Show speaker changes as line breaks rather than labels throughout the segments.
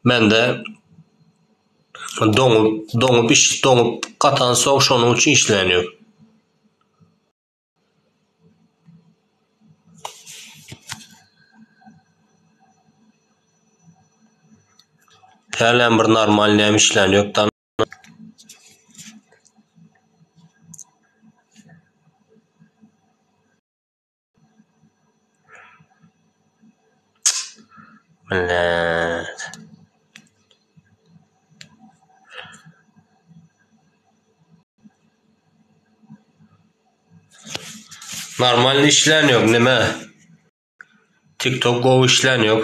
Mende doňup, doňup iş, doňup gatan soň şonuň üçin işleýän ýok. Hälem bir normalnyam işleýän ýok dana. Normalny işlän ýok nime? Tiktok gowy işlän ýok.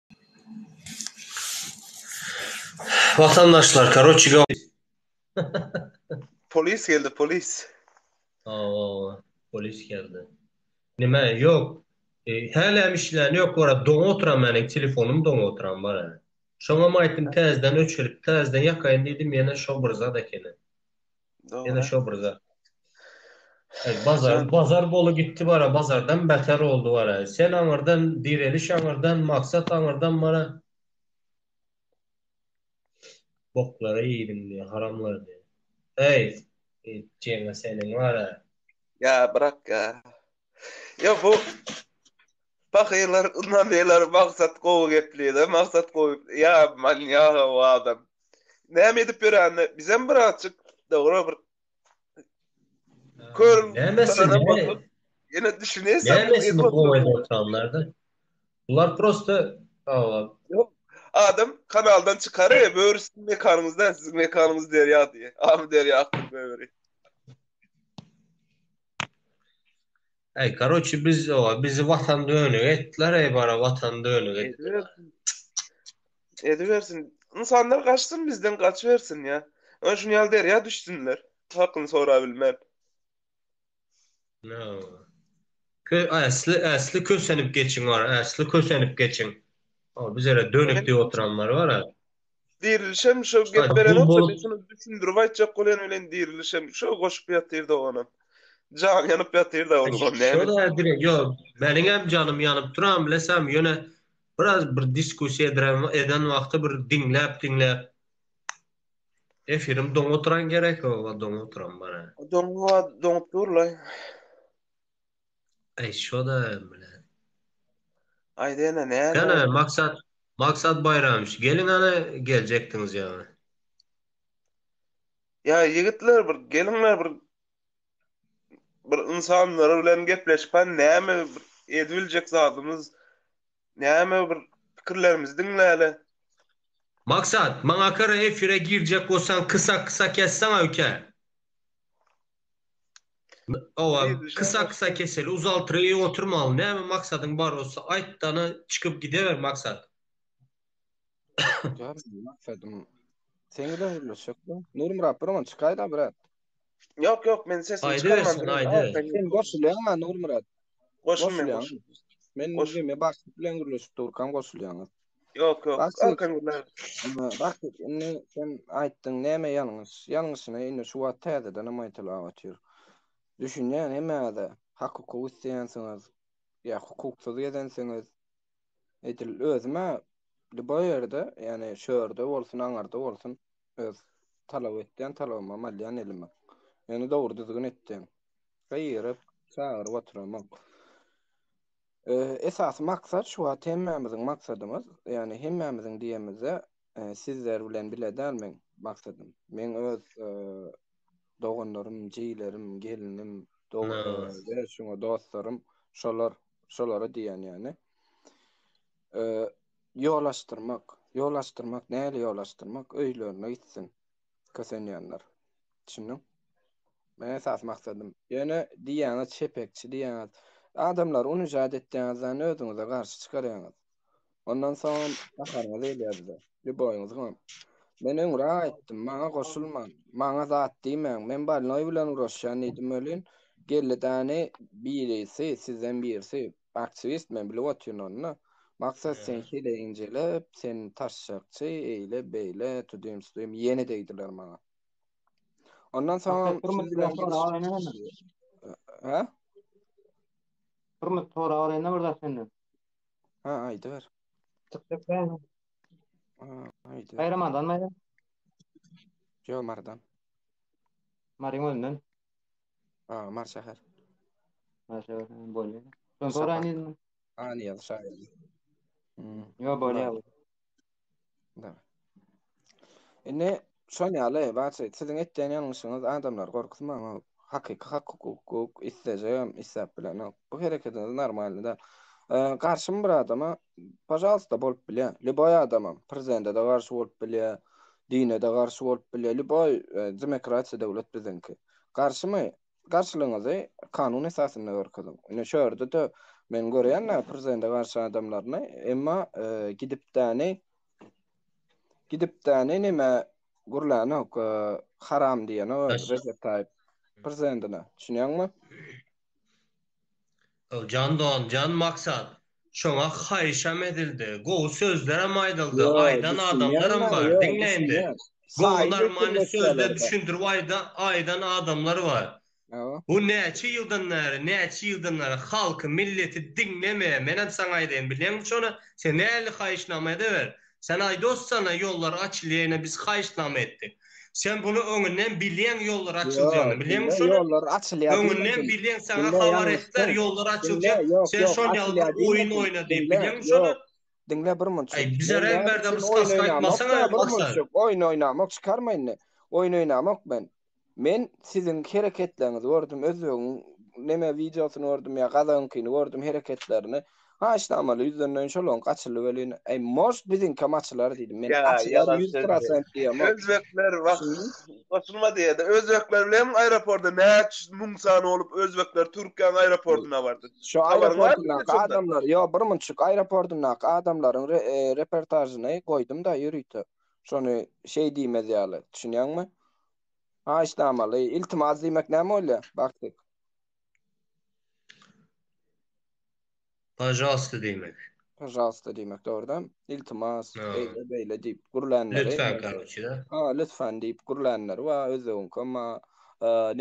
Watandaşlar karoçi go.
Polis geldi polis. Hawa hawa
polis geldi. Nime yok hälem işlän yok wara doňa oturan meniň telefonym doňa oturan bar hälä. Şoňam aýtdym täzeden öçürip täzeden ýakaýyn diýdim ýene şo bir zat ekeni. Ýene şo bir zat. Ay bazar bazar bolu gitti bara bazardan beter oldu bara. Sen aňyrdan direliş aňyrdan maksat aňyrdan bara. Boklara ýedim diye haramlar diye. Ay etjeňe senin bara. Ya bırak
ya. Ya bu Pahyr ynha neler maksat gowy geplide maksat gowy ýa manýaga bu adam näme edip ýöränini bizem birazjyk dogry bir kör nämesin bakyp ýene düşüneýin nämesin gowy edip
oturanlarda bular prosta
adam kanaldan çykar e böri siziň mekanyňyz däl siziň mekanyňyz derýa diýe amy derýa akdyr böri.
Eý karoçi biz oa bizi watan dönük etdiler eý bara watan dönük etdiler. Edibersin.
Ynsanlar gaçsyn bizden gaçybersin ýa. Ön şuny ýaly derýa düşsünler. Hakyny sorap bilmän.
No. Kö äsli äsli kösenip geçiň ora äsli kösenip geçiň. O bizere dönük diýip oturanlar bar. Dirilişem
şo gep berenok, men şuny
düşündirip
aýtjak bolýan bilen dirilişem şo goşup ýatyr da onam. Jan ýanyp ýatyr da onuň näme. Şo da direk ýok.
Meniň hem janym ýanyp duran bilesem, ýöne biraz bir diskussiýa ediren eden wagty bir diňläp diňläp efirim doňup duran gerek, oba doňup duran bar. Doňup doňup
durlaý.
Aý şoda bilen.
Aýdene näme? Gana maksat
Maksat Baýramyç geliň ana geljekdiňiz ýaňy.
Ýa ýigitler bir geliňler bir bir ynsanlar bilen gepleşip han näme ediljek zadymyz näme bir pikirlerimizi diňläle.
Maksat maňa kara efire girjek bolsaň kysa kysa kesseň öýke. Owa, kysa-kysa keseli uzaltyr ýaly oturmaly. Näme maksadyň bar bolsa, aýt dana, çykyp gideber maksat. Jan,
maksadym seň bilen gürleşjek bu. Nurmyrat, bir oňa çykaýda, brat. Ýok, ýok,
men sesimi çykarman. Aýdybersin, aýdyber. Sen
goşulýaň maňa,
Nurmyrat. Goşul,
men
goşul. Men gürleşip durkam goşulýaňyz. Ýok, ýok.
Erken gürlän. Bak,
indi sen aýtdyň, näme ýalňyş? Ýalňyşyna indi şu wagt täzeden hem aýtylap otyr. Düşünýän hemmäňize hak-hukuk isleýänsiňiz, ýa hukuksyz gezensiňiz. Edil özüm-ä lýuboý ýerde, ýagny şörde bolsun, aňyrda bolsun, öz talap etýän talabymam alýan elime. Ýöne dogry-düzgün etdim. Gygyryp, çagyryp oturamok. Esasy maksat şu wagt hemmämiziň maksadymyz, ýagny hemmämiziň diýemizde, sizler bilen bile däl meň maksadym. Meň öz doganlarym, jigilerim, gelnim, şuňa dostlarym, şolar, şolara diýýän ýagny. Ýol açdyrmak, ýol açdyrmak, nähili ýol açdyrmak, öýlerine gitsin. kösenýänler. Düşündiň? Men esas maksadym. Ýöne diýýäňiz çepekçi diýýäňiz. Adamlary unijat etýäňizden özüňize garşy çykarýaňyz. Ondan soňam gaharyňyz gelýär bize. Lýuboýyňyzy goň. Men öňräk aýtdym, maňa goşulman, maňa zat diýmäň, men bolnoý bilen uraşýan diýdim welin, geldi däni birisi, sizden birisi, Aktiwist men bilip otyryn ony. Maksat sen hile injelep, sen taşşakçy, eýle beýle, tudym sudym ýene degdiler maňa. Ondan soňam Hä? Hurmat
sorag berende bir zat senden. Ha,
aýdyber. Çykjak däl. Aýdyber. Aýramadan maýa. Ýo mardan.
Maryň önden. A,
Mary şäher.
Mary şäher hem bolýar. Şony soraýyn
Şafak. diýdim. A, Niýaz şaýyr. Hmm. Ýo, bolýar. Mary. Da. Indi şol ýaly barça siziň etýän ýalňyşyňyz adamlary gorkuzmaň. ol Hakyky hak hukuk islejegem isläp bilenok. Bu hereketiňiz normalny däl. E, Garşym bir adama pažalsta bolup bilýär. Lýuboý adamam prezidente-de garşy bolup bilýär. Dine-de garşy bolup bilýär. Lýuboý e, demokratiýa döwlet biziňki. Garşymy? Garşylygyňyzy kanun esasynda görkeziň. Ine şu ýerde-de men görýän-ä prezidende garşy adamlaryny, emma gidipdäni gidipdäni neme gürlänok, haram diýenok Rejep Taýyp prezidendine. Düşünýäňmi?
Jan don jan maksat şoňa haýyşam edildi gowy sözlerem aýdyldy aýdan adamlaram bar diňleýinde gowy normalny sözler düşündirip aýda aýdan adamlar bar bu näçe ýyldan bäri näçe ýyldan bäri halky milleti diňlemeýär menem saňa aýdaýyn bilýäňmi şony sen näli haýyşnama edeber Sen aýdos sana ýollar açylýa ene biz haýyşnama etdik. Sen bunu öňünden bilýäň ýollar açyljagyny bilýäňmi şony? Ýollar açylýa diýmedi. Öňünden
bilýäň saňa
habar etdiler ýollar açyljak sen şon ýaly bir oýun oýna diýip bilýäňmi şony? Diňle bir munçuk.
Aý bizerem berdem
skaska aýtmasaňa maksat. Oýun oýnamak
çykarma indi. Oýun oýnamak men. Men siziň hereketleriňizi gördüm, özbegiň neme wideosyny gördüm ýa gazagyňkyny gördüm hereketlerini. Haýyşnamaly ýüzlenmeýin şol oňki açyldy welin. Eý most biziňkem açylar diýdim men. Ýa Açylar ýalan ýüz söz diýýä. prosent diýýäm o. Özbekler wah
Düşündiňmi? goşulma diýýädä. Özbekler bilen aeroporda näç müň sany bolup özbekler Türkiýäň aeroportyna bardy. Şo Habaryň barmy aeroportyndaky
şondan? adamlar ýok birmunçuk aeroportyndaky adamlaryň re repertažyny goýdumda ýörite. Şony şeý diýmez ýaly, düşünýäňmi? Haýyşnamaly, iltimas diýmek näme bolýa, Bagtyk?
Pažalsta diýmek. Pažalsta diýmek,
dogrudanam. Iltimas, beýle, beýle diýip gürlänleri. Lütfän, karoçi, da.
Ha, lütfän
diýip gürlänleri bar, özbegiňkem bar,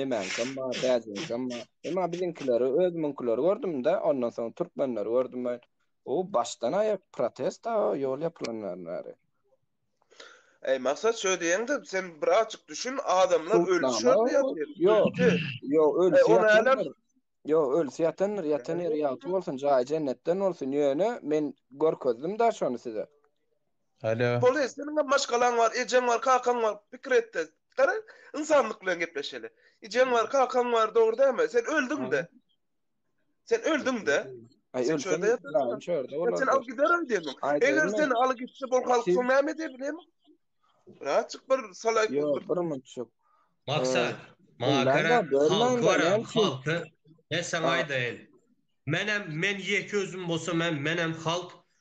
nemäňkem bar, täjigiňkem bar. Emma biziňkileri, özümiňkileri gördüm-de, ondan soň türkmenleri gördüm men. O, başdan-aýak protest-a, ýol ýapylandan bäri.
Eý Maksat şöý diýeňde sen bir açyk düşün adamlar ölüp şöý ýatyr. Ýok. Ýok ölüp
ýatyr. Ýok ölüp ýatyr. Ýatan ýeri ýagty bolsun. Jaýy jennetden bolsun. Ýöne men görkezdim da şony size. Alo.
Bolýa seniňem maşgalaň bar, ejeň bar, kakaň bar. Pikir etde. Gara ynsanlyk bilen gepleşeli. Ejeň bar, kakaň bar dogry dälmi? Sen öldüňde. Sen öldüň-de.
Aý ölsem de ýatyrsyň. Şördä bolar. Sen
al giderin diýdim. Eger sen al gitse bol halk soň näme edip bileýin? Rahatçyk bir salak bir. Ýok, bir munçuk.
Maksa,
maňa gara, halk bar, halk. Men saňa aýdaýyn. Menem, men ýeke özüm bolsam hem, menem halk.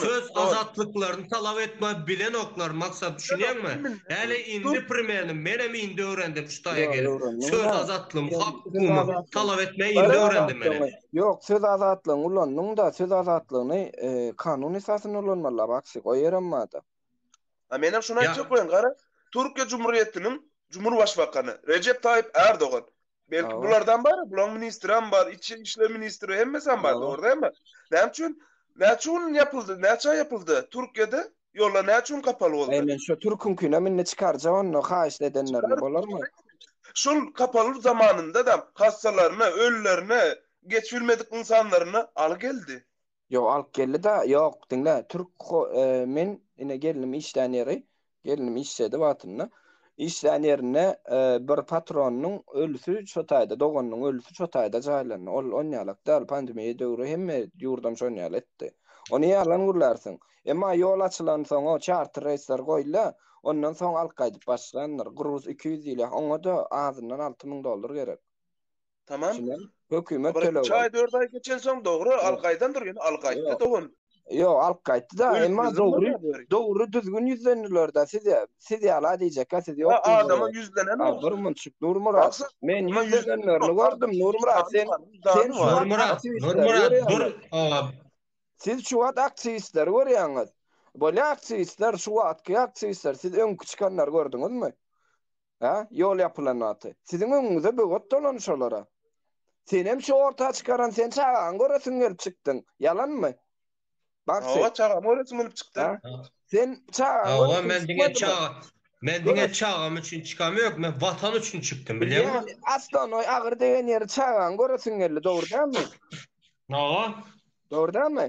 Söz azatlyklaryny talap etme bilenoklar maksat düşünýäňmi? Häli indi primerni menem indi öwrendim şu taýa gelip. Söz azatlygyny hak hukumy talap etme indi öwrendim menem. Ýok söz azatlygyny
ulandyňda söz azatlygyny kanun esasynda ulanmalyda Baksy o ýerem bada. A menem
şony aýtjak bolan gara Türkiýe Cumhuriyetiniň Cumhurbaşbakany Recep Tayyip Erdogan Belki Awa. bulardan bar, bularyň ministri hem bar, içi işler ministri hemmesi hem bar, Awa. dogry dämi? Näme üçin? Näçe gün ýapyldy? Näçe aý ýapyldy? Türkiýede ýollar näçe gün kapaly boldy? Eý, men şo türküňkinem
indi çykarjak onda haýyşt edenlerine, bolarmy? Şol
kapaly zamanynda-da hassalaryny, ölülerini, geçip bilmedik ynsanlaryny aly geldi. Ýok, alyp geldi-de,
ýok, diňle, türk ho, e, men ine gelnim işlän ýeri, gelnim işledi wagtynda. Işlän ýerinde e, bir patronynyň ölüsi şo taýda, doganynyň ölüsi şo taýda jaýlandy. Ol onýalak däl, pandemiýa döwri hemme ýurdam şonýaly etdi. Ony ýalan gürlärsiň. Emma ýol açylansoň-o, çarter reýsler goýdy-da, ondan soň alyp gaýdyp başlandyr. Gruz iki ýüz diýilýär, oňa-da azyndan alty müň dollar gerek.
Tamam. Hökümet
Habar töleg. 3 aý 4 aý
geçen soň dogry al gaýdan dur ýöne al gaýtdy
dogan. Ýok al gaýtdy da emma dogry dogry
düzgün
ýüzlendiler da siz siz ýala diýjekkä siz ýok. Ýa adama ýüzlenen
ol. Bir munçuk Nurmyrat.
Men
ýüzlenenlerini gördüm
Nurmyrat sen sen Nurmyrat
Nurmyrat dur.
Siz şu wagt aktiwistleri görýäňiz. Bolýa aktiwistler şu wagtky aktiwistler siz öňki çykanlary gördüňizmi? Hä? Ýol ýapylan wagty. Siziň öňüňize böwet dolan şolara. Senem şu orta çykaran sen çagaňy göresiň gelip çykdyň. Ýalanmy? Bagşy. Hawa, çagamy göresiň gelip çykdyň.
Sen
çagaňy göresiň gelip çykdyň. Hawa, men diňe
çaga,
men diňe
çagam üçin çykam ýok, men watan üçin çykdym, bilýäňmi? Bilýän, Aslanoý
agyr degen ýeri çagaňy göresiň geldi, dogry dälmi? Hawa.
Dogry
dälmi?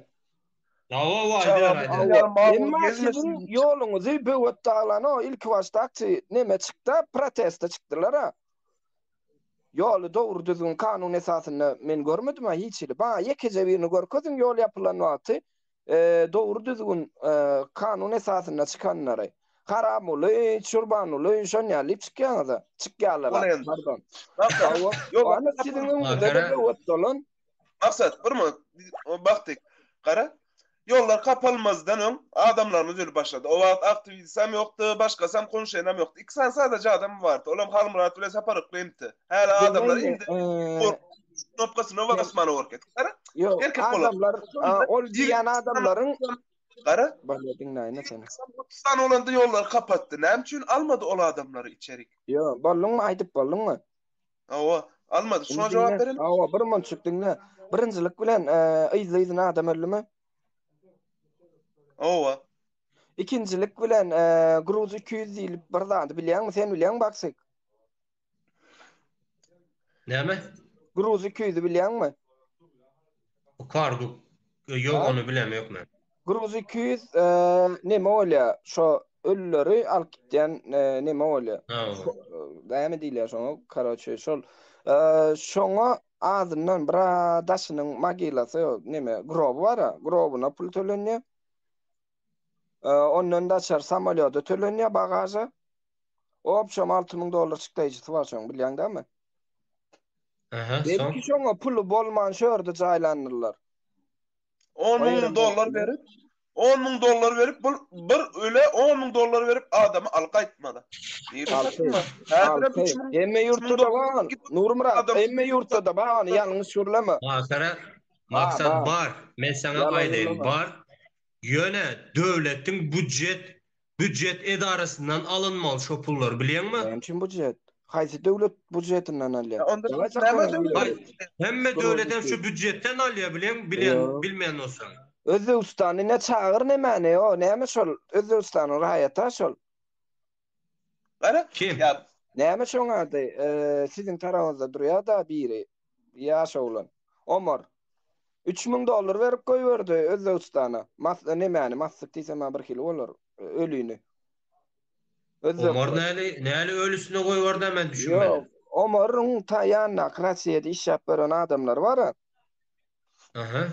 Dawa
wa aýdyber
Çagam aýdyber. Hawa, ýalma bolup emma siziň
gezmesin.
ýoluňyzy böwet daglan o ilki başda akçy neme çykda proteste çykdylara. Ýoly dogry düzgün kanun esasynda men görmedim a hiç hili. Maňa ýekeje birini görkeziň ýol ýapylan wagty dogry düzgün kanun esasynda çykanlary. Haramuly, Çurbanuly şon ýaly çykýaňyza. Çykýalara. Pardon. Hawa. Ýok. Siziň öňüňizde böwet dolan. Maksat, bir
minut, o baktyk, gara, ýollar kapalmazdan öň adamlarymyz ölüp başlady. O wagt aktiwistam ýokdy, başgasam konşenam ýokdy. Iki sany sadaja adam bardy, olam Halmyrat bilen Sapar Yklymdy. Häli adamlar indi knopkasyna basman oguryp gitdi. Gara, erkek bolar.
Adamlar, ol diýen adamlaryň... Gara,
bana diňläýin-ä
seni. Sany bolanda
ýollary kapatdy. Näme üçin almady ol adamlary içerik? Ýo, bolduňmy,
aýdyp bolduňmy? Hawa,
almady. Şoňa jogap berelim. Hawa, bir monçuk diňle.
Birinjilik bilen, yzly-yzyna adam öldümi?
Hawa. Ikinjilik
bilen, Gruz 200 diýlip bir zady bilýäňmi? Sen bilýäňmi, Baksik? Näme?
Gruz 200-i
bilýäňmi?
Bu kargo ýok ony bilem ýok men. Gruz iki ýüz
neme bolýa şo ölüleri alyp gitýän neme bolýa. Näme diýilýär şoňa karoçe şol şoňa azyndan bir daşynyň magilasy neme groby bara grobyna pul tölenýä. Ondan daçar samolýoda tölenýär bagaža. Obşom alty müň dollar çykdaýjysy bar şoň, bilýäň dämi? Aha, soň? Belki şoňa puly bolman şu ýerde jaýlandylar. On müň
dollar berip, on müň dollar berip, bul bir öle on müň dollar berip adamy al gaýtmada.
Hemme ýurtda-da bar, Nurmyrat, hemme ýurtda-da bar, ýalňyş gürleme.
Maksat bar, men saňa aýdaýyn, bar. Ýöne döwletiň budjet budjet edarasyndan alynmaly şo pullar bilýäňmi? Näme üçin budjet?
Haýsy döwlet budjetinden alýa? Onda siz näme döwlet? Hemme
döwletem şu budjetden alýa bileň bilen bilmeýän bolsaň. Özbegistany ne
çagyr ne mäne ýok näme şol Özbegistanyň raýata şol.
Gara? Kim?
Näme şoň
ady? Siziň tarapyňyzda durýar-da biri. Ýaş oglan. Omar. Üç müň dollar berip goýberdi Özbegistana. Mas, nemäni, massyk diýsem-ä birhili bolar. Ölini.
Özbek. Omar näli, näli ölisine goýberdi-ä, men düşünmedim. Ýok, Omaryň
ta ýanyndaky Rossiýada işläp ýören adamlary bar-a.
Aha.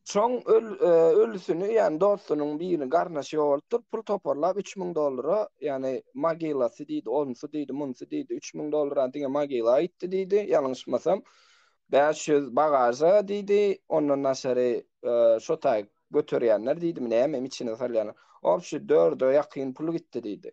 Şoň
öl, e, ölüsini, ýagny dostunyň birini garnaşy ýogaltdyr, pul toparlap 3000 dollara, ýagny mogilasy diýdi, onsy diýdi, munsy diýdi, 3000 dollara diňe mogila aýtdy diýdi, ýalňyşmasam. 500 bagaža diýdi, ondan daşary e, şo taý göterýänler diýdimi, nämemi içine salýanlar. Obşi dörde ýakyn pul gitdi diýdi.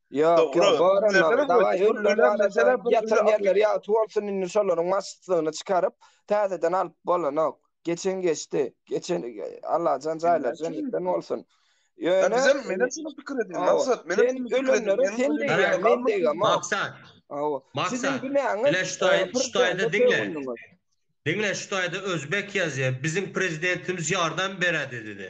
Ýok, ýok, bor
onda. Dagaý, öllüň arasynda ýatan ýerleri ýagty bolsun, indi şolaryň maşytlygyny çykaryp, täzeden alyp bolanok. Geçen geçdi. Geçen, Allajan jaýlary jennetden bolsun. Ýöne, bizem,
menem şuny pikir edýän, Maksat, menem şuny pikir edýän. Ölenleri ölenleri sen
diýýäň, men diýemok. Maksat, hawa,
Maksat,
bile şu taý, şu
taýda diňle. Diňle, şu taýda özbek ýazýar, biziň prezidentimiz ýardam berädi diýdi.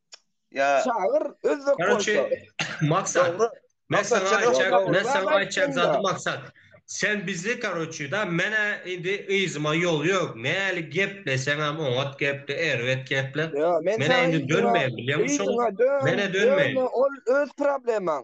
Ya Çagyr
özbek Karoçe, bolsa. maksat.
Dogry. Men Maksat, sana
sen aytacak,
özbek men
bolsa sana
aytacak aýtdyň
zady da.
maksat. Sen bizi karoçe da mene indi yzyma ýol ýok. Näli gepleseňem oňat geple, erbet geple. Ýa, men Mene sana indi yzyňa,
dönmeýin
bilýäňmi
şoňa? yzyňa
dön, Mene
dönmeýin. dönme, ol
öz
problemaň.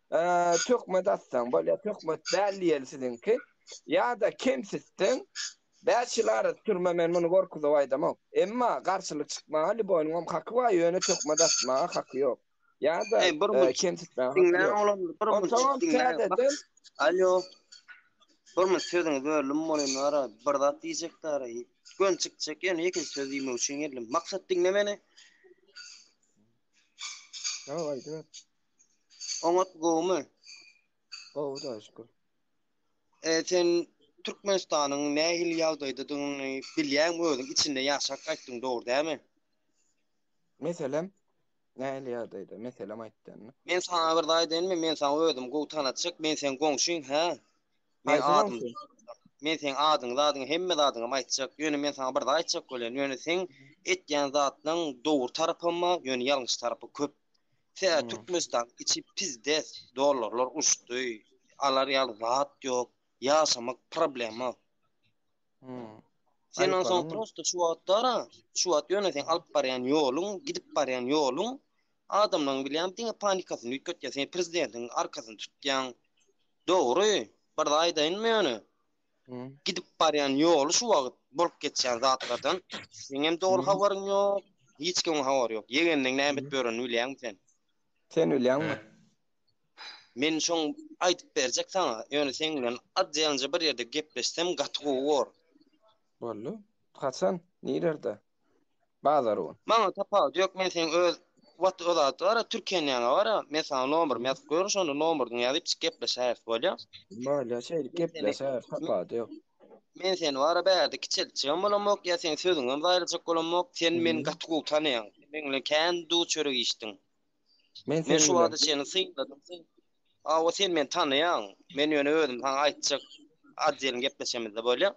Töhmet atsaň bolýar, töhmet däl diýeli siziňki. Ýa-da kemsitseň, bäş ýyl arasy türme men muny gorkuzyp aýdamok. Emma garşylyk çykmaga Liboýnyňam haky bar, ýöne töhmet atmaga haky ýok. Ýa-da kemsitmäge haky ýok.
Onsoňam täzeden. Alýo. Bir minut sözüňi böldüm welin ara bir zat diýjekdi ara göni çykjak ýöne ýekeje söz diýmek üçin geldim. Maksat diňle meni.
Ýok aýdyber.
Oňat gowumy? Gowy
daş şükür. E,
sen Türkmenistanyň nähili ýagdaýdadygyny bilýäňmi özüň? Içinde ýaşap gaýtdyň, dogry dämi?
Meselem, nähili ýagdaýda? Meselem aýtdyňmy? Men sana bir zat
aýdaýynmy? Men sana özüm gowy tanatjak. Men sen goňşyň, hä? Men Haýsy adym. goňşy? Men sen adyň, zadyň, hemme zadyňam aýtjak. Ýöne men sana bir zat aýtjak bolýan. Ýöne seň etýän zatlaň dogry tarapam bar, ýöne ýalňyş tarapy köp. Tä Türkmenistan içi pizdes, dollarlar uçdy, alar ýaly zat ýok, ýaşamak problema. Hmm. Sen o son prosto şu
wagtdara,
şu wagt ýöne sen alyp barýan ýoluň, gidip barýan ýoluň adamlaryň bilýän diňe panikasyny üýtgetýär. Sen prezidentiň arkasyny tutýaň. Dogry, bir aýdaýynmy ýöne? gidip barýan ýoly şu wagt bolup geçýän zatlardan seňem dogry habaryň ýok, hiç kimiň habary ýok. Ýegeniniň näme edip ýörenini bilýäňmi sen? Sen bilýäňmi? Men şoň aýdyp berjek saňa, ýöne seň bilen az ýalanja bir ýerde gepleşsem gaty gowy bor. Boldy.
Haçan? Nirerde? Bazar u. Maňa tapawut ýok men
seň öz whats o zat bara türkenýaňa bara men saňa nomerimi ýazyp goýaryn şonda nomerdiňi ýazyp çyk gepleşäris bolýa. Bolýa şeýdip
gepleşäris tapawut ýok. Men seni bara
bärde kiçeltjegem bolamok ýa seň sözüňem zaýalajak bolamok sen meni gaty gowy tanaýaň sen meň bilen kän duw çörek iýşdiň Men men seň şu wagta bilen. çenli synladym sen hawa sen meni tanaýaň men ýöne özüm saňa aýtjak adyýelin gepleşemizde bolýa.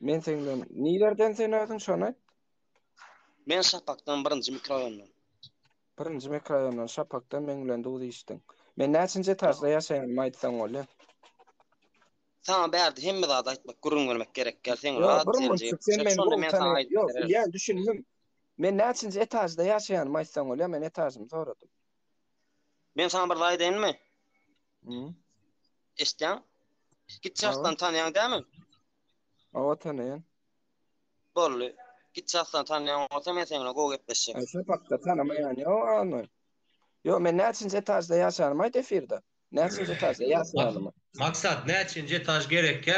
Men seň
bilen nilerden sen özüň şony aýt.
Men Şapakdan birinji mikroraýondan. Birinji
mikroraýondan Şapakdan meň bilen duz içdiň. Men näçinji etažda ýaşaýanymy aýtsaň bolýa.
Saňa bärde hemme zady aýtmak, gürrüň bermek gerek däl. Sen rat, sen jigim. Şonda
men
saňa
aýdyp
bererin. Ýok, ýa düşündim.
Men näçinji etažda ýaşaýanymy aýtsaň bolýa, men etažymy soradym.
Men saňa bir zat aýdaýynmy?
Eşitýäň?
Git çartdan tanýaň dämi? Awa
tanýan. Bolly.
Git çartdan tanýaň bolsa men seniň gowy gepleşjek. Aý şu pakda tanamaýan
ýo almy? Ýo men näçinji etažda ýaşanymy aýt efirde. Näçinji etažda ýaşanymy. Maksat näçinji
etaž gerekkä?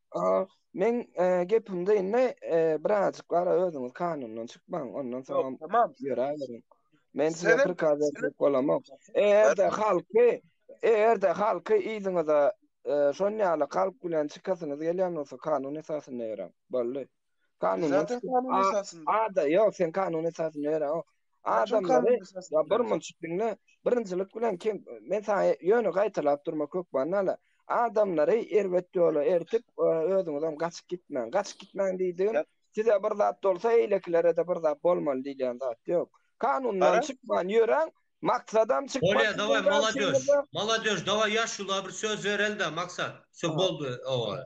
Men gepimde indi birazjyk gara özüňiz kanundan çykmaň, ondan soň tamam ýöräberiň. Men size prikaz edip
bolamok.
Eger-de halky, eger-de halky yzyňyza şon ýaly kalp bilen çykasyňyz gelýän bolsa kanun esasynda ýöräň. Boldy. Kanuna Zaten tutup, kanun a-
esasynda.
Ada,
ýok, sen kanun
esasynda ýöre. o. Kaçak Adamlary
kanun esasynda Ya
bir ýöre. munçuk
diňle.
Birinjilik bilen kim men sana ýöne gaýtalap durma kök bannala. Adamlary erbet ýola ertip e, özüňizem gaçyp gitmäň. Gaçyp gitmäň diýdigim Ýa- size bir zat
bolsa
eýlekilere-de bir zat bolmaly diýilýän zat ýok. Kanundan Gara. çykman ýöräň. Maksadam çykma Bolýa, daway, diýilýän molodeş.
garşyňyza. Molodeş, daway, ýaşulylara bir söz bereli-de, Maksat. Şo Ha. boldy, owa.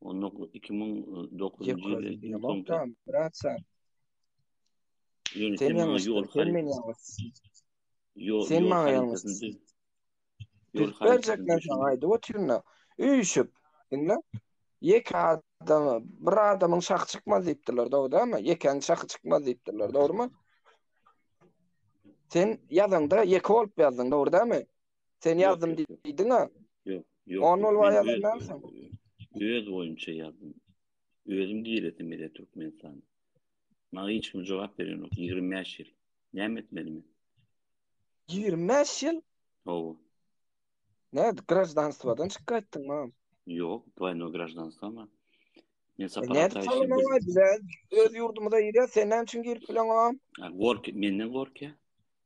Onda 2009-njy ýyl ilki soňky.
Braçar. Sen
maňa ýol
haryt. Sen maňa ýalňyşdyň.
Ýol harytlaryny saňa
aýdyp otyryn-da. Üýşüp, diňle. Ýeke adam, bir adamyň şahy çykmaz diýipdirler, dogrudanmy? Ýekäň şahy çykmaz diýipdirler, dogrumy? Sen ýazanda ýeke bolup ýazdyň, dogrudanmy? Sen ýazdym diýdiňä? Ýok, ýok. On
ol waý
ýazandansyň. Öz
boýunça ýazdym. Özüm giresim gelýär Türkmenistana. Maňa hiç kim jogap beren ýok. 25 ýyl. Näme etmeli men? 25 ýyl?
Hawa. Ne, graždanstwadan çykyp gaýtdyň mam? Ýok, dwaýnoý
graždanstwa mam. Men saparatyň
içinde. Öz ýurdumyza girýär, sen näme üçin girip bileňok? Gork, menden
gorkýar.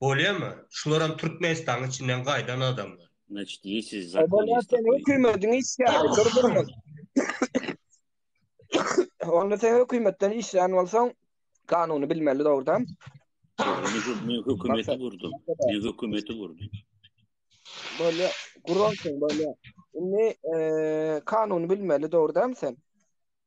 Bolýamy? Şularam Türkmenistanyň içinden gaýdan adamlar. Значит ýesiz
zat. Obalar sen hökümediň işgäri
dur durmaz. Onda sen hökümetden işlän bolsaň kanuny bilmeli dogrudan. Men
hökümeti gurdum. Men hökümeti gurdum.
Bolýa, gurarsyň bolýa. Indi kanuny bilmeli dogrudan sen.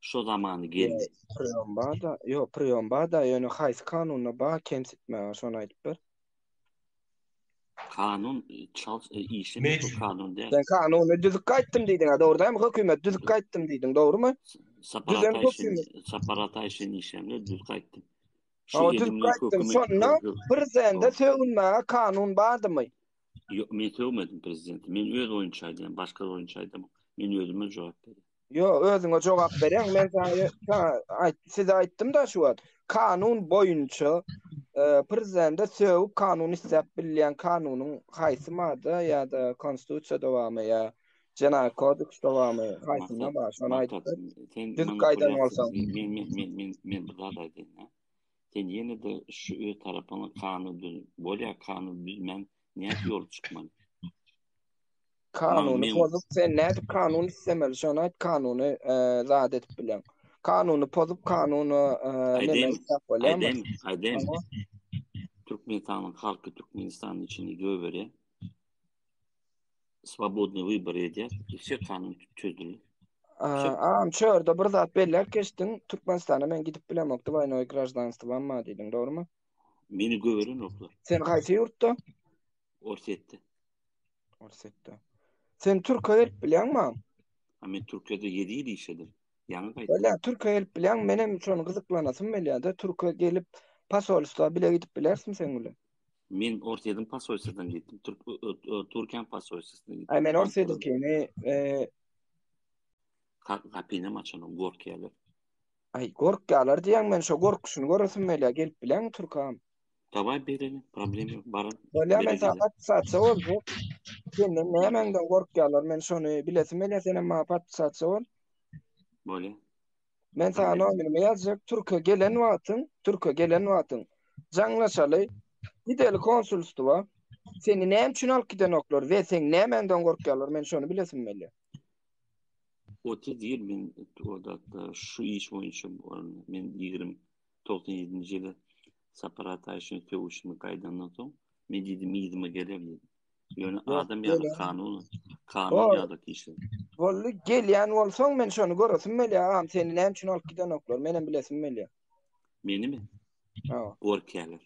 Şo zaman geldi. Priýom barda, ýok,
priýom barda, ýöne haýsy kanunda bar kemsitmäge, şony aýdyp ber. Kanun
çalt e, işe bu kanun däl. Sen kanuny düzüp
gaýtdym diýdiň, ha, dogry dämi? Hökümet düzüp gaýtdym diýdiň, dogrumy? Saparata
işin,
saparata
işin işemde
düzüp gaýtdym.
Şu düzüp gaýtdym,
şonda
prezidente
sögünmäge kanun bardymy? Ýok, men
sögmedim prezidenti. Men öz oýunça aýdýan, başga oýunça aýdamok. Men özüme jogap berýän. Ýo, özüňe
jogap bereň. Men saňa ta aýt, size aýtdym da şu wagt. Kanun boýunça e, prezidente sögüp kanun isläp bilýän kanunyň haýsy madda ýa-da konstitusiýada barmy ýa Jenaýat kodeksde barmy? Haýsynda Maksat, bar? Şony maksat, aýtsa. sen Düzüp maňa gaýdan bolsa. gülýärsiň. Men, men, men, men, men
bir zat aýdaýyn. ha. Sen ýene-de şu öz tarapyňy kanun düz, bolýar kanun düzmän Nädip ýol çykmaly? Kanuny
pozup, sen nädip kanun istemeli? Şonu aýt, kanuny e, zat edip bilen. Kanuny pozup, kanuny e, näme isläp bolýarmy? Aýdem,
aýdem. Türkmenistanyň halky Türkmenistanyň içinde göbere swobodny wybor edýär. Işe kanun çözüldi. Aam,
çörde bir zat belläp geçdiň. Türkmenistana men gidip bilemok, dwaýnoý graždanstwam bar diýdiň, dogrumy? Meni gören
oklar. Sen haýsy ýurtda?
Orsetde.
Orsetde.
Sen Türkiýe gelip bilýäňmi? Men
Türkiýede 7 ýyl işledim. Ýaňy gaýtdym. Öle, Türkiýe gelip bilýäň,
men hem şony gyzyklanasym gelýär-de, Türkiýe gelip pasolstwa bile gidip bilersiň sen bilen. Men Orsetden
pasolstwadan gitdim. Türk Türkiýe pasolstwasyna gitdim. Aý, men Orsetdikini,
eee
Gapyny açan gorkýarlar. Aý
gorkýalar diýýäň men şo gorkuşyny göresim gelýä gelip bileňmi Türkan. Dawaý bereli
problem ýok baran. Bolýa men saňa
podpisatsa boljak. Senden nämäňden gorkýalar men şony bilesim gelýä senem maňa podpisatsa bol. Bolýa.
Men
saňa nomerimi ýazjak Türkiýe gelen wagtyň Türkiýe gelen wagtyň jaňlaşaly gideli konsulstwa seni näme üçin alyp gidenoklar we seň nämäňden gorkýalar men şony bilesim gelýä.
30 ýyl men odatda şu iş boýunça men 20 97-nji ýyly Sapar Ataýewiçe sögüşimi gaýdandan soň men diýdim yzyma gelerli. Ýöne adam ýa-da kanun, kanun ýa-da kişi. Boldy, gelýän
bolsaň men şony göresim gelýär, agam seni näme üçin alyp gidenoklar, menem bilesim gelýär. Menimi?
Ha.
Gorkýärler.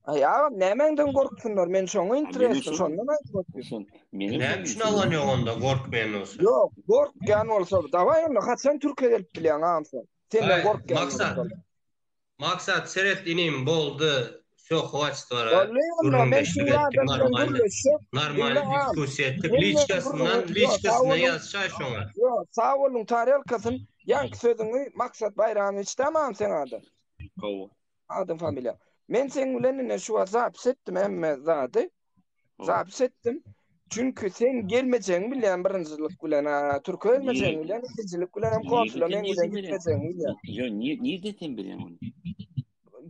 Ay
agam nämäňden gorksunlar? Men şoňa interesli, şondan aýdyp otyryn. Näme üçin
alan ýok onda gorkmaýan bolsa? Ýok, gorkýan
bolsa, dawaý onda haçan Türkiýä gelip bilýäň agam sen? Senden gorkýan bolsalar. Maksat,
seret inim, boldy, wsё, hwaçt wara. Bolly onda, men
şeýle adam bilen gürleşjek.
Normalny diskussiýa etdik, liçkasyndan, liçkasyna ýazşaý şoňa. Ýo, sagbolun
tarelkasyn, ýaňky sözüňi Maksat Baýramowiçdämi agam seň adyň? Hawa.
Adam familiýa.
Men seň bilen ine şu wagt zapis etdim hemme zady. Zapis etdim. Çünki sen gelmejegini bilýän birinjilik bilen, ha, türkü gelmejegini bilýän, ikinjilik bilen hem konsula men bilen gitmejegini bilýän. Ýo, nirde
sen bilýän ony?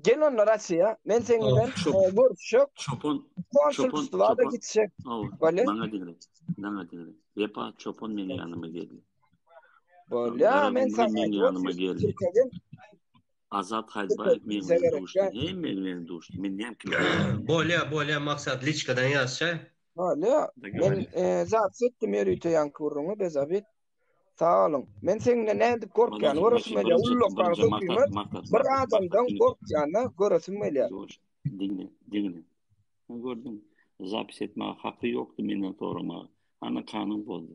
Gel
onda Russiýa, men seň bilen görüşjek. Çopan, çopan, çopan. Gitjek. Bale. Maňa diňle.
Maňa diňle. Wepa çopan meniň ýanyma geldi. Bolýa,
men sen ýanyma geldi.
Azat Haýbaýew meň bilen duşdy. Hemme bilen duşdy. Men näme kim? Bolýa, bolýa
Maksat liçkadan ýazşa. Bolýa.
Men zat etdim ýörite ýaňky gürrüňi bez abi. Sag boluň. Men seň bilen nädip gorkýan göresim gelýä. Ullakan söhbet. Bir adamdan gorkýana göresim gelýä.
Diňle, diňle. Gördüň. Zapis etmäge haky ýokdy menden soramaga. Ana kanun bozdy.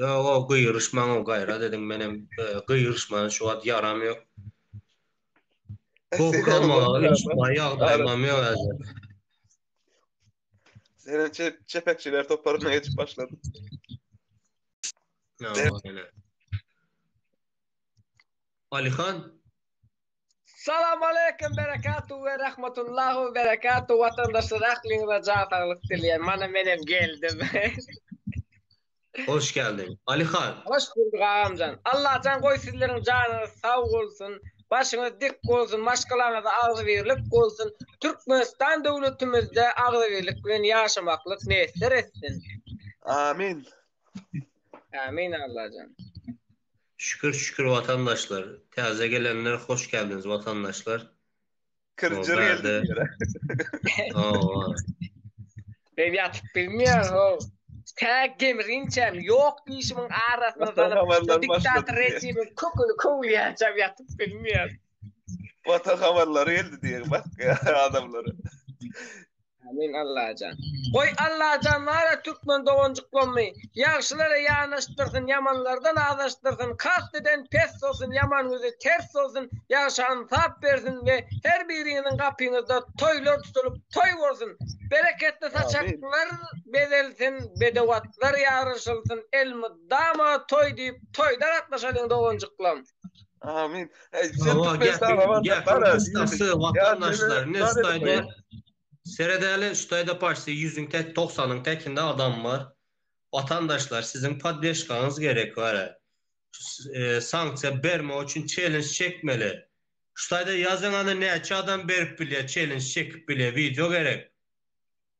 Ýo-o, gyýryşmaň-ow gaýrat ediň, menem gyýryşmana şu wagt ýaram ýok. Gohgamaga ýyşmaga ýagdaýymam ýok häzir.
Senem çep, çepekçiler toparyna geçip başladym.
Ýa-o, ýene. Alyhan,
Salam aleýkum berekatu we rahmetullahu we berekatu watandaşlar ahliňize jan saglyk dileýän. Mana men hem geldim.
Hoş geldin. Ali han. Hoş bulduk agamjan.
Allah jan goý sizleriň janyňyz sag bolsun. Başyňyz dik bolsun, maşgalaňyza agzybirlik bolsun. Türkmenistan döwletimizde agzybirlik bilen ýaşamaklyk miýesser etsin. Amin. Amin Allahjan. Şükür
şükür watandaşlar taze gelenler hoş geldiniz watandaşlar. Kir
jir geldi
diýere. Hawa.
Ben ýatyp bilmeýän ho. Tä gemrinçäm ýok diýişimiň arasyna salyp
diktator rejimiň
köküni köwülýänçäm ýatyp bilmeýän. Watan
habarlary geldi diýen bak adamlara.
Amin Allajan. Goý Allajan bara türkmen doganjyklarymy ýagşylara ýanaşdyrsyn, ýamanlardan azaşdyrsyn, kasteden pes bolsun, ýaman ýüzi ters bolsun, ýagşy ansap bersin we her biriňiziň gapyňyzda toýlar tutulyp toý bolsun. Bereketli saçaklar bezelsin, bedewatlar ýaryşylsyn, elmydama toý diýip toýda gatnaşalyň doganjyklarym. Amin.
Ey, sen Hawa, Türkmen gäpiň, saga bar,
gäpiň bar, ha, kysgasy, diýdik. watandaşlar, Ýa, indi sen- Staýda, seredeli, Staýda paşty ýüzüň tek, togsanyň tekinde adam bar. Watandaşlar, siziň poddeşkaňyz gerek bara. S- e, Sanksiýa bermek üçin çelens çekmeli. Staýda ýazyň, ana, näçe adam berip bilýär, çelens çekip bilýär, wideo gerek.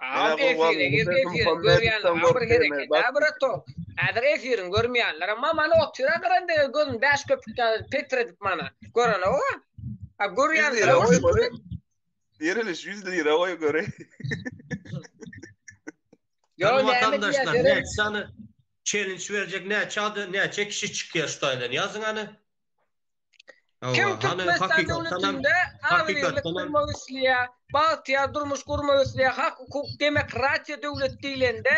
Aw efire gir efiriň
görýänler bar bir hereket a bratok häzir efiriň görmeýänler ma mana otyr a gyran dege gözün bäş köpük ýaly petredip mana görenok a a görýänler
bar Diriliş 100 lira goý göreý.
Ýok näme diýýär näçe challenge berjek näçe adam näçe kişi çykýar şu taýdan ýazyň hany.
Kim Türkmenistan döwletinde agzybirlik gurmak isleýär, bagtyýar durmuş gurmak isleýär, hak-hukuk, demokratiýa döwleti diýlende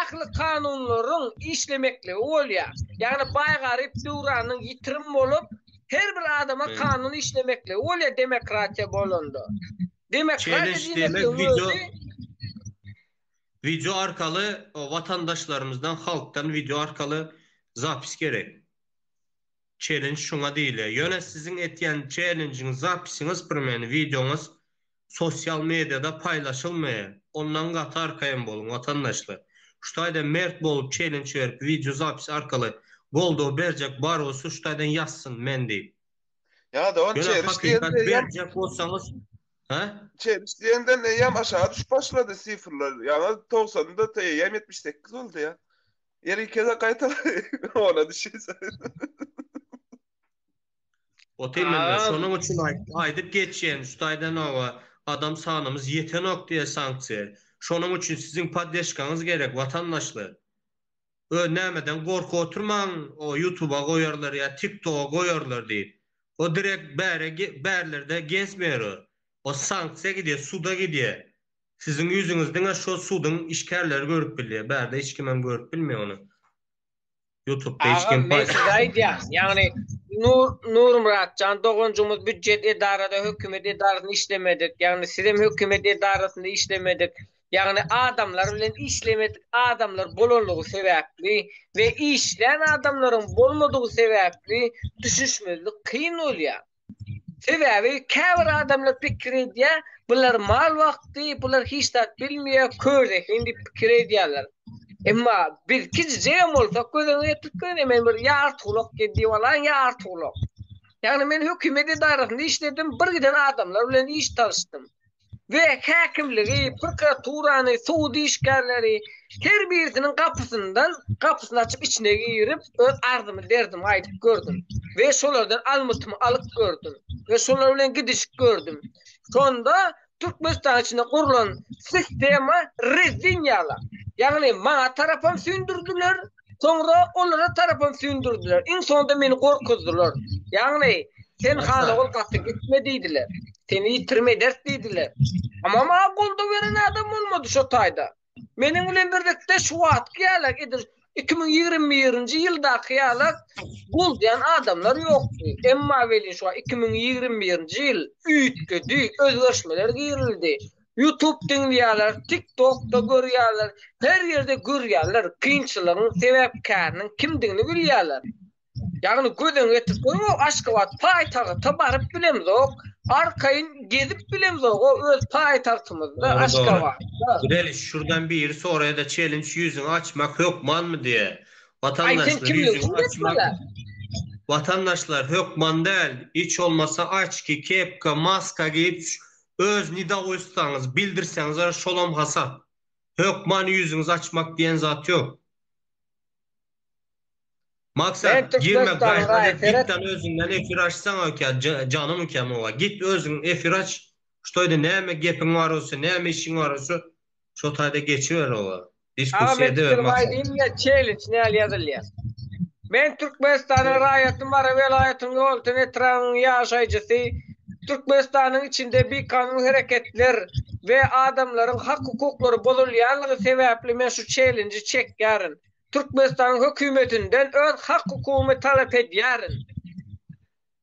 ähli kanunlaryň işlemekligi bolýar. Ýagny baý-garyp döwranyň ýitirim bolup, her bir adama kanun işlemekligi bolýar demokratiýa bolanda. Demokratiýa diýmekligiň özi
Wideo arkaly watandaşlarymyzdan, halkdan wideo arkaly zapis gerek. Çellenj şuňa diýilýär. Ýöne siziň etýän çellenjiňiz, zapisiňiz, primeni, wideoňyz sosial mediada paýlaşylmaýa. Ondan gaty arkaýyn boluň, watandaşlar. Şu taýdan mert bolup çellenj berip wideo zapis arkaly goldaw berjek bar bolsa şu taýdan ýazsyn men diýip. Ýa-da ony Ýöne çeriş hakykat
diýende eýýäm berjek
bolsaňyz Hä? Çeriş
diýenden eýýäm aşagy düşüp başlady sifrler. Ýaňy togsanda eýýäm ýetmiş sekiz boldy ýa. Ýeri keze
gaýtal ona düşýse. Oty mende şonuň üçin aýdyp geçýän şu taýdan oba adam sanymyz ýetenok diýe sanksiýa. Şonuň üçin siziň poddeşkaňyz gerek watandaşlar. Ö nämeden gorkup oturmaň o ýutuba goýarlar ýa tiktoga goýarlar diýip. O direkt bäre bärlerde gezmeýär o. O sanksiýa gidýär suda gidýär. Siziň ýüzüňizi diňe şo suduň işgärleri görüp bilýär, bärde hiç kimem görüp bilmeýär ony. Ýutubda hiç kim paý. Agam men size aýdýan, ýagny
Nur Nurmyratjan doganjygymyz býujet edarada hökümet edarasynda işlemedik, ýagny sizem hökümet edarasynda işlemedik, ýagny adamlar bilen işlemedik adamlar bolanlygy sebäpli we işlän adamlaryň bolmadygy sebäpli düşüşmezlik kyn bolýar. Sebäbi käbir adamlar pikir edýär, bular mal wagty, bular hiç zat bilmeýär, kör zehin diýip pikir edýärler. Emma biz kijijegem bolsak göz öňüne getirip göreliň, men bir ýa artgulak diýip alaýyn, ýa artgulak. Ýagny
men hökümet edarasynda işledim, bir giden adamlar bilen iş talyşdym. we häkimligi, prokuraturany, sud işgärleri her birisiniň gapysyndan gapysyny açyp içine girip öz arzymy derdimi aýdyp gördüm we şolardan almytymy alyp gördüm we şolar bilen gidişip gördüm. Şonda Türkmenistan içinde gurlan sistema rezin ýala. Ýagny maňa tarapam sündürdiler, Soňra olara tarapyn süýndürdiler. Iň soňunda meni gorkuzdylar. Ýagny, sen hana ol gaty gitme diýdiler. Seni ýitirim ederis diýdiler. Emma maňa goldaw beren adam bolmady şo taýda. Meniň bilen birlikde şu wagtky ýaly, edil iki müň ýigrimi birinji ýyldaky ýaly goldaýan adamlar ýokdy. Emma welin şu wagt iki müň ýigrimi birinji ýyl üýtgedi, özgerişmeler girildi. Ýutub diňleýärler, tik tokda görýärler, her ýerde görýärler, kynçylygyň sebäpkäriniň kimdigini bilýärler. Ýagny göz öňe getirip goýuňok, Aşgabat paýtagta baryp bilemzok, arkaýyn gezip bilemzog-a öz paýtagtymyzda Aşgabatda. Gel şurdan
biri soraýada çelinç ýüzüňi açmak hökmanmy diýe. Watandaşlar ýüzüňi açmak Watandaşlar hökman däl, hiç bolmasa açki, kepka, maska geýip Öz nidaoýstwaňyzy bildirseňizler şolam hasap. Hökman ýüzüňizi açmak diýen zat ýok. Maksat, girme gaýrat et, gitdan özüňden efir açsaň oke, janym oke muňa. Git özüň efir aç, ştoýda näme gepiň bar bolsa, näme işiň bar bolsa, Şo taýda geçiber oba. Aga men pikirimi aýdayyn ýa çeýlinç
näl ýazylýa. Men Türkmenistanyň raýaty Mary welaýatynyň Ýolöten etrabynyň ýaşaýjysy Türkmenistanyň içinde bikanun hereketler we adamlaryň hak hukuklary bozulýanlygy sebäpli men şu çeýlinji çekýärin. Türkmenistanyň hökümetinden öz hak hukugymy talap edýärin.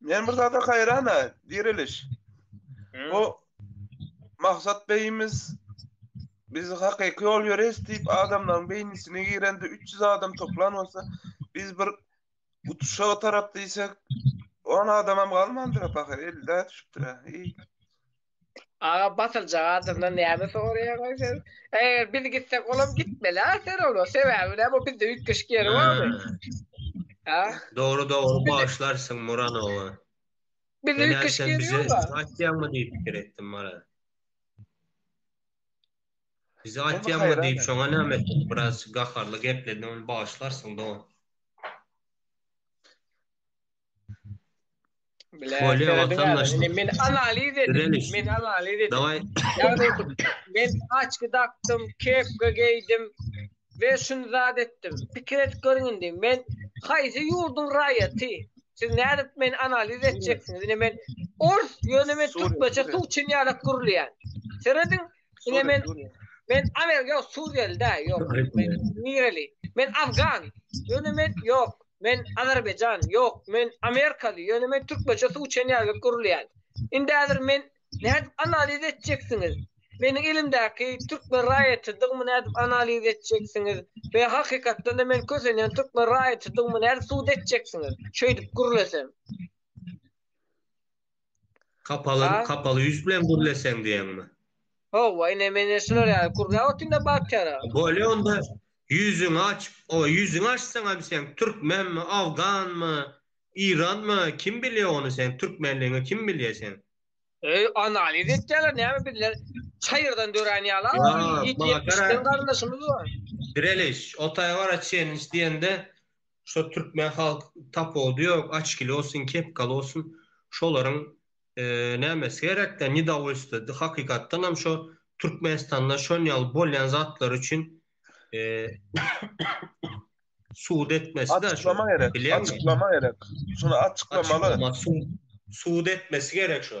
Men bir zada haýran-a, Diriliş. Bu Maksat beýimiz biz hakyky ýol ýöreýs diýip adamlaryň beýnisine girende 300 adam toplan bolsa, biz bir utuşa tarap diýsek, on adamam galmandyr-a pahyr, elli-ä düşüpdir-ä. Aga batyljak
adamdan näme soraýaňa sen? Eger biz gitsek olam gitmeli ha sen ola. Sebäbi näme bu bizde üýtgeşik ýeri barmy? Ha?
Dogry dogry başlarsyň Muranowa. Biz
üýtgeşik ýeri ýok ha. Bizi atýaňmy diýip pikir
etdim Mara. Bizi atýaňmy diýip şoňa näme etdim biraz gaharly gepledi ony başlarsyň dogan.
Bolýa wagtam daşda. Men analiz edim. Men analiz edim. Daway. Ýagny men açky dakdym, kepka geýdim we şuny zat etdim. Pikir edip görüň indi. Men haýsy ýurduň raýaty? Siz nädip men analiz etjeksiňiz? Ine men ors, ýöne men türkmençe suw çyn ýalak gürleýän. Serediň, Ine men men Amerika yok Suriyeli da yok. Men Nireli. Men Afgan. Yöne men yok. Men Azerbaycan yok. Men Amerikalı. Yöne men Türkmeçe su içen yerlik kurulayan. Indi hazır men ne edip analiz edeceksiniz? Meniň elimdäki türkmen raýatydygymy nädip analiz etjeksiňiz we hakykatdan da men kösenýän türkmen raýatydygymy nädip subut etjeksiňiz? Şeýdip gürlesem.
Kapaly, Ha? kapaly ýüz bilen gürleseň diýeňmi? Hawa, ine
men ýene şular ýaly gürläp otyryn-da batýara. Bolýa onda
ýüzüňi açyp, o ýüzüňi açsaňam sen türkmenmi, awganmy, iranmy, kim bilýä ony sen türkmenligiňi kim bilýä seň? Öý, analiz
etýärler, näme bizler çaýyrdan dörän ýaly-a, Ýa, ýedi maňa ýetmiş garaz. sen garyndaşymyz bar. Direliş, o
taýa bara çenlişdiýende Şo türkmen halk tapawudy ýok, açkili bolsun, kepkaly bolsun, şolaryň nämesi gerekdä, nedowolstwody, hakykatdan hem şo Türkmenistanda şon ýaly bolýan zatlar üçin sud etmesi de şo, bilýäňmi?
Açyklama gerek, şuny açyklamaly. Sud
etmesi gerek şo.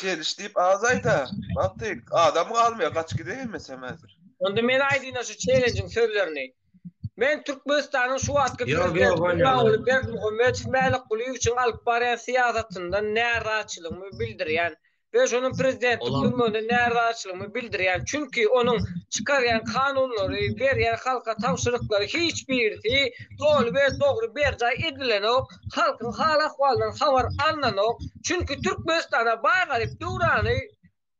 Çeliş
diýip az aýda. Wagtyk adam galmaýar, gaç gide gelmesem häzir. Onda men aýdyna
şu çelenjiň sözlerini. Men Türkmenistanyň şu wagtky prezidenti Gurbanguly Berdimuhamedow Mälik Gulyýewiçiň alyp barýan syýasatyndan närazyçylygymy bildirýän we şonuň prezidentlik durmunda
närazyçylygymy
bildirýän, çünki onuň çykarýan kanunlary, berýän halka tabşyryklary hiç birisi doly we dogry berjaý edilenok. halkyň hal-ahwalyndan habar alnanok, çünki Türkmenistana baý garyp döwrany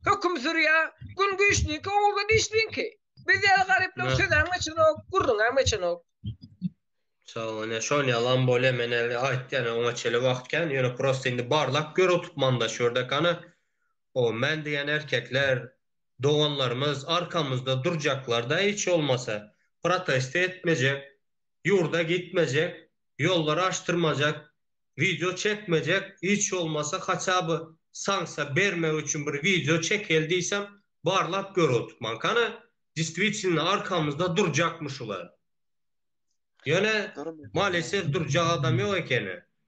höküm sürýär, gün güýçliňki, ogulgy dişliňki. Biz ýaly garyplar sözem geçenok, gürrüňem geçenok.
Sag ol, şon ýalam bolýa, men indi aýtýan, oňa çenli wagt kän, ýöne prosta indi barlap gör otup manda şu ýerde gana, o men diýen erkekler, doganlarymyz arkamyzda durjaklar-da hiç bolmasa, protest etmejek. ýurda gitmejek, ýollary açdyrmajak, wideo çekmejek, hiç bolmasa haça by sanksiýa bermek üçin bir wideo çekeli diýsem barlap gör otupmank hany distwitilno arkamyzda durjakmy şular? Ýöne maleses
durjak
adam ýok ekeni.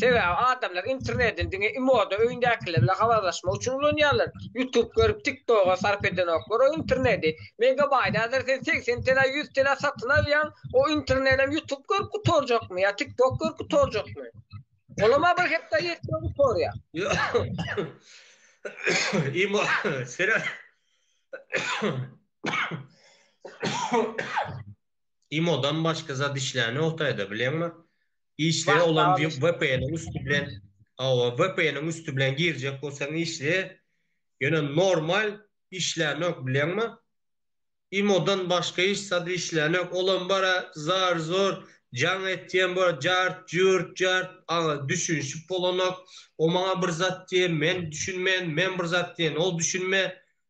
Sebäbi adamlar interneti diňe imoda öýündäkiler bilen habarlaşmak üçin ulanýarlar. Ýutub görüp tik toga sarp edenoklar o interneti. Megabaýt häzir sen segsen telä ýüz telä satyn alýaň o internelem ýutub görüp gutarjakmy ýa tik tok görüp gutarjakmy. Olam a bir hepdä ýetmän gutarýar.
Imo seret imodan başga zat işlänokdaýda bileňmi Işleýär olam diýip
vpn-iň
üsti
bilen
hawa vpn-iň üsti bilen girjek bolsaň işleýär ýöne normal işlänok bilýäňmi imodan başga hiç zat işlänok olam bara zar zor jaň etýän bor jart jurt jart aga düşünşip bolanok o maňa bir zat diýýär men düşünmeýän men bir zat diýen ol düşünmeýär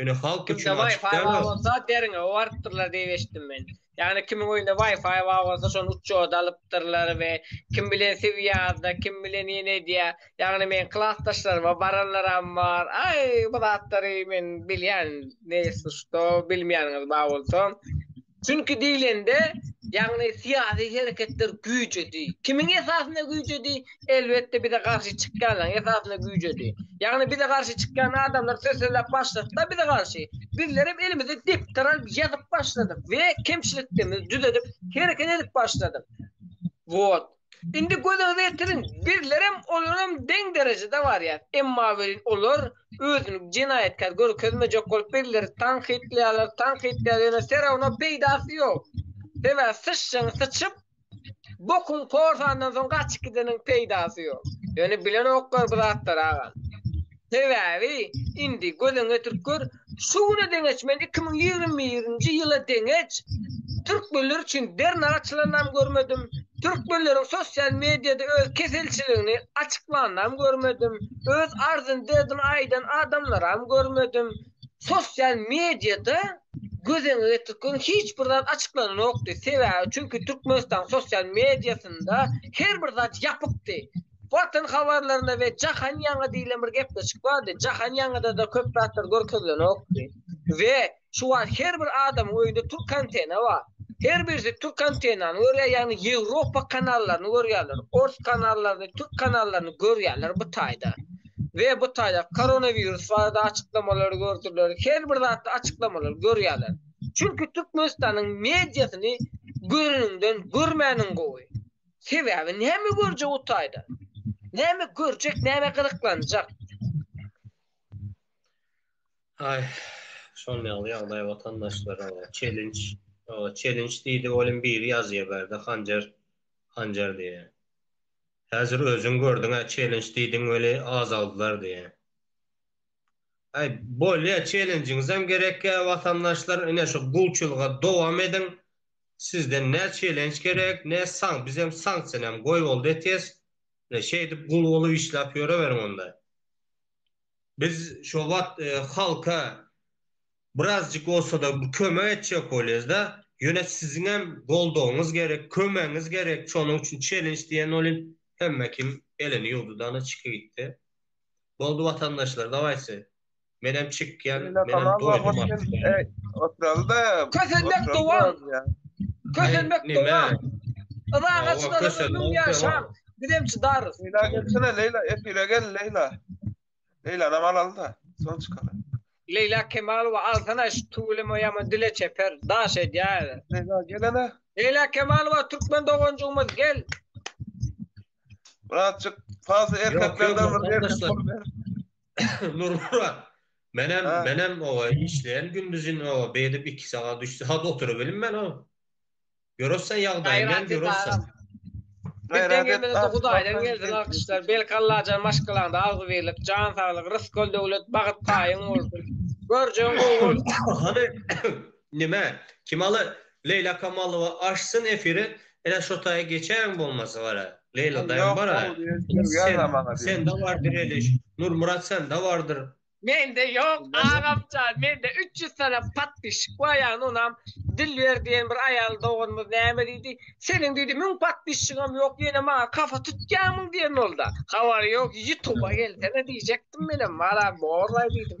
Ýöne halk üçin Kimde açyk Wi-Fi däl bar ol. bolsa deriňe
owarypdyrlar diýip eşitdim men. Ýagny kimiň öýünde Wi-Fi bar bolsa şony uçjoda alypdyrlar we kim bilen swiýazda, kim bilen ýene edýär. Ýagny meň klasdaşlaryma baranlaram bar. Aý, bu zatlary men bilýän, ne ýesi şuto, bilmeýäniňiz bar bolsa. Çünki diýlende, ýagny syýasy hereketler güýjedi. Kimiň esasynda güýjedi? Elbetde bize garşy çykýanlaryň esasynda güýjedi. Ýagny bize garşy çykýan adamlar söz sözläp başladyk-da bize garşy. Bizlerem elimize depder alyp ýazyp başladyk we kemçiliklerimizi düzedip hereket edip başladyk. Wot. Indi gözüňize ýetiriň, bizlerem olaram deň derejede barýas, emma welin olar özüni jenaýatkär görkezmejek bolup bizleri tankytlaýarlar, tankytlaýarlar ýöne serawno peýdasy ýok. Sebäbi syçjyň syçyp bokuň korsandan soň gaçyp gideniň peýdasy ýok. Ýöne bilenoklar bu zatlary agam. Sebäbi, indi göz öňüne getirip gör, şu güne deňeç, men iki müň ýigrimi birinji ýyla deňeç türkmenler üçin dernek açylanam görmedim, türkmenleriň sosial mediada öz keselçiligini açyklanam görmedim, öz arzyny-derdini aýdan adamlaram görmedim. Sosial mediada göz öňüne getirip görüň, hiç bir zat açyklananokdy. Sebäbi, çünki Türkmenistanyň sosial mediasynda her bir zat ýapykdy. Watan habarlarynda we Jahan ýaňy diýlen bir gepleşik bardy. Jahan ýaňyda-da köp zatlar görkezilenokdy. We şu wagt her bir adamyň öýünde türk antena bar. Her birisi türk antenany görýär, ýagny Ýewropa kanallaryny görýärler, ors kanallaryny, türk kanallaryny görýärler bu taýda. We bu taýda koronawirus barada açyklamalary gördüler, her bir zatda açyklamalary görýärler. Çünki Türkmenistanyň mediasyny göreniňden görmäniň gowy. Sebäbi näme görjek o taýda? Näme görjek, näme gyzyklanjak?
Aý, şol ýaly ýagdaý watandaşlar, oba, çelinç, oba, çelinç diýdi, welin biri ýazýa bärde hanjar, hanjar diýýä. Häzir özüň gördüň-ä, çelinç diýdiň weli azaldylar diýýä. Aý bolýa çelenjiňizem gerekýa watandaşlar ine şu gulçulyga dowam ediň sizden ne çelenç gerek ne san bizem sanksiýanam goýboldy etyes ine şeýdip gul bolup işläp ýöreweriň onda biz şo wagt halka birazjyk bolsada kömek etjek bolýasda ýöne siziňem goldawyňyz gerek kömegiňiz gerek şonuň üçin çelenç diýen welin hemmekim elini ýuwdudana çyky gitdi. Boldy watandaşlar davaysy menem çykýan menem doýdum artık. Oturalda.
Kösenmek
dowam. Kösenmek dowam. Yza gaçylara ömrüň ýaşa. Bizem çydarys. Leýla gelsene Leýla
efire gel Leýla. Leýlanam alalda soň çykaly. Leýla Kemalowa
alsana şu tüweleme ýaman dile çeper daş edýär. Leýla gelene.
Leýla Kemalowa
türkmen doganjygymyz gel.
Muratjyk, fazla erkeklerden bir erkek bolup ber.
Nurmurat, menem, menem oba işleýän gündizin oba beýdip iki sagat, üç sagat oturybilim men o. Görürsen ýagdaýymy hem görürsen. Bizden
gelmese-de Hudaýdan gelsin alkyşlar. Belki Allajan maşgalaňda agzybirlik, jan saglyk, rysgal-döwlet, bagyt paýyň bolsun. Görjegiň gowy bolsun. Hany,
Nime? Kimala Leýla Kamalowa açsyn efiri ene şotaýy geçäýiň bolmasa gara Leýla daýym bara sende bar direliş Nurmyrat sende bardyr. Mende ýok
agamjan mende üç ýüz sany podpişik bar ýagny onam Dilber diýen bir aýal doganymyz näme diýdi seniň diýdi müň podpişigem ýok ýene maňa kafa tutýamyň diýen bolda habary ýok ýutuba gelsene diýjekdim menem malam borlaý diýdim.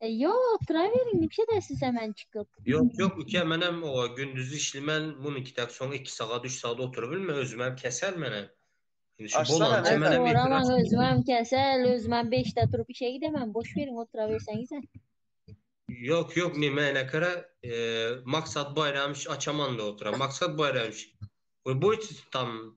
E,
Ýok, oturaweriň, niçede siz hemen çykyp? Ýok, ýok, ike,
menem owa gündiz işlimen, munykitäk soň iki sagat, üç sagat oturyp bilme, özümem kesel menem. Indi şu Açsana, bolança Aý, menem ýetir
soramaň, açyp. özümem kesel, özümem beşde turup işe gidemen, boş beriň, oturawerseňize.
Ýok, ýok, nimäne kere, e, Maksat Baýramowiç açaman-da otura. Maksat Baýramowiç, we boýt tam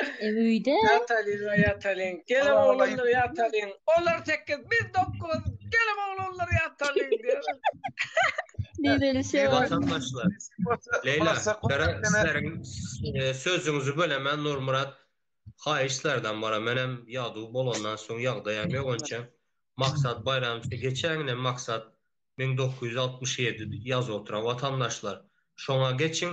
E öýde.
Ýatalyň, ýatalyň.
Gelen oglanlar ýatalyň. Olar sekiz, biz dokuz. Gelen oglanlar ýatalyň diýer. Nireli şeýle.
Watandaşlar. Leýla, sizleriň sözüňizi bölemen Nurmyrat. Haýyş sizlerden bara. Menem ýaduw bolandan soň ýagdaýam ýok onça. Maksat Baýramçy geçäňňe maksat müň dokuz ýüz altmyş ýedi ýazyp oturan watandaşlar. Şoňa geçiň.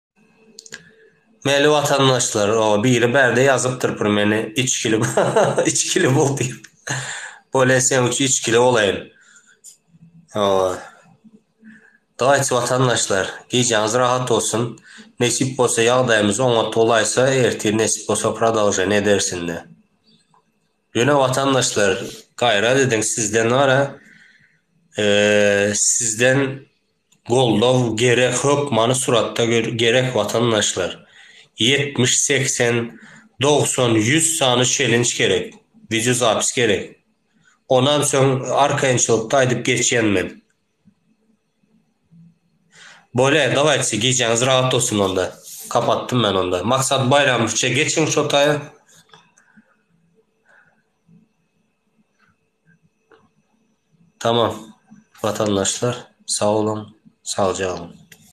Meli watandaşlar o biri bärde ýazypdyr pur meni içgili içgili bul diýip. Bole sen üçin içgili bolaýyn. O. Daýç watandaşlar gijäňiz rahat bolsun. Nesip bolsa ýagdaýymyz oňat bolaýsa ertir nesip bolsa prodolženiýa ederis indi. Ýöne watandaşlar gaýrat ediň sizden wara sizden Goldaw gerek hökmany suratda gerek watandaşlar. Ýetmiş, segsen, dogsan, ýüz sany çelinç gerek, wideozapis gerek. Onam soň arkaýynçylykda aýdyp geçýän men. Bolýa dawaýçy gijäňiz rahat bolsun onda. Kapatdym men onda. Maksat Baýramowyçça geçiň şo taýa. Tamam watandaşlar sag boluň sagja galyň.